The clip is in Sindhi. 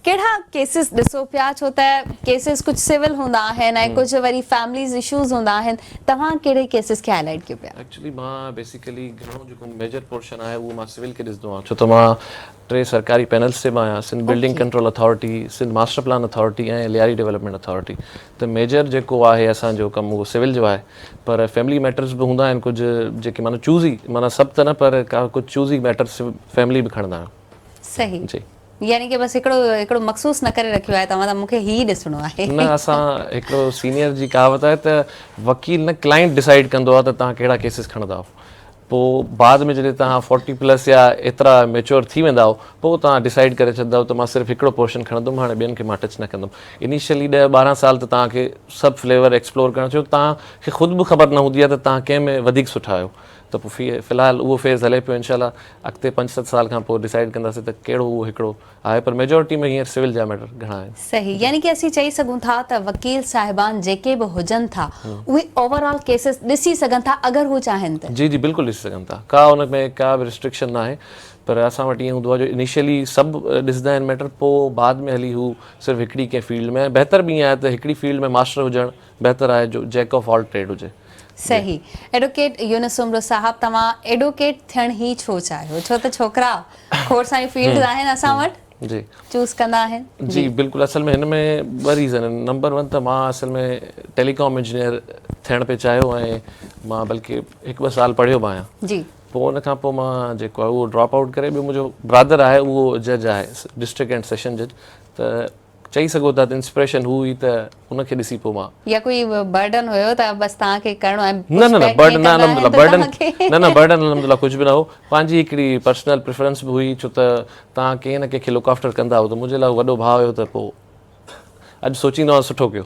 ڪهڙا ڪيسز ڏسو پيا ڇو ته ڪيسز ڪجهه سول هوندا آهن ۽ ڪجهه وري فيمليز اشوز هوندا آهن توهان ڪهڙي ڪيسز کي هاء لائيٽ ڪيو پيا. ايڪچلي مان بيسيڪلي گهڻو جيڪو ميجر پورشن آهي اهو مان سول کي ڏسندو آهيان ڇو ته مان ٽي سرڪاري پينلز تي به آهيان Sindh building control authority, Sindh master plan authority ۽ Lyari development authority ته ميجر جيڪو آهي اسان جو ڪم اهو سول جو آهي پر فيملي ميٽرز به هوندا آهن ڪجهه جيڪي معنيٰ چوزي معنيٰ سڀ ته نه پر ڪا ڪجهه چوزي ميٽرز فيملي به کڻندا آهيون. صحيح جي يعني ڪي بس هڪڙو هڪڙو مخصوص نه ڪري رکيو آهي توهان ته مونکي هي ڏسڻو آهي نه اسان هڪڙو سينيئر جي ڪهاوت آهي ته وڪيل نه ڪلائنٽ ڊسائيڊ ڪندو آهي ته توهان ڪهڙا ڪيسز کڻندا آهو پو بعد ۾ جڏهن توهان فورٽي پلس يا ايترا ميچور ٿي ويندا آهو پو توهان ڊسائيڊ ڪري ڇڏندا آهو ته مان صرف هڪڙو پورشن کڻندم هاڻي ٻين کي مان ٽچ نه ڪندم انيشلي ڏهه ٻارهن سال ته توهان کي سڀ فليور ايڪسپلور ڪرڻ ڇو توهان کي خود به خبر نه هوندي آهي ته توهان ڪنهن ۾ وڌيڪ سٺا آهيو ته پوء في الحال اهو فيز هلي پيو انشاء الله اڳتي پنج ست سال کان پوء ڊسائيڊ ڪنداسين ته ڪهڙو اهو هڪڙو آهي پر ميجورٽي ۾ هينئر سول جا ميٽر گهڻا آهن. صحيح يعني ڪي اسين چئي سگهون ٿا ته وڪيل صاحبان جيڪي به هجن ٿا اهي اوور آل ڪيسز ڏسي سگهن ٿا اگر هو چاهين ته. جي جي بلڪل ڏسي سگهن ٿا ڪا ان ۾ ڪا به رسٽرڪشن ناهي پر اسان وٽ ائين هوندو آهي جو انيشلي سڀ ڏسندا آهن ميٽر پوء بعد ۾ هلي هو صرف هڪڙي ڪنهن فيلڊ ۾ ۽ بهتر به ائين آهي ته هڪڙي فيلڊ ۾ ماسٽر هجڻ بهتر آهي جو جيڪ آف آل ٽريڊ هجي. صحيح ايڊوڪيٽ يونس عمرو صاحب توهان ايڊوڪيٽ ٿيڻ هي ڇو چاهيو ڇو ته ڇوڪرا کوڙ ساريون فيلڊز آهن اسان وٽ جي چوز ڪندا آهن جي بلڪل اصل ۾ هن ۾ ٻه ريزن آهن نمبر ون ته مان اصل ۾ ٽيلي ڪام انجنيئر ٿيڻ پي چاهيو ۽ مان بلڪه هڪ ٻه سال پڙهيو به آهيان جي پوء ان کان پوء مان جيڪو آهي اهو ڊراپ آئوٽ ڪري ٻيو منهنجو برادر آهي اهو جج آهي ڊسٽرڪٽ اينڊ سيشن جج ته چئي سگهو ٿا ته انسپريشن هو هئي ته ان کي ڏسي پوء مان. يا ڪوئي برڊن هيو ته بس توهان کي ڪرڻو آهي ۽ نه نه برڊن نه الحمدلله برڊن نه نه برڊن الحمدلله ڪجهه به نه هو پنهنجي هڪڙي پرسنل پريفرنس به هئي ڇو ته توهان ڪنهن نه ڪنهن کي لڪ آفٽر ڪندا هئو ته منهنجي لاء هو وڏو ڀاء هيو ته پوء اڄ سوچيندو آهيان سٺو ڪيو.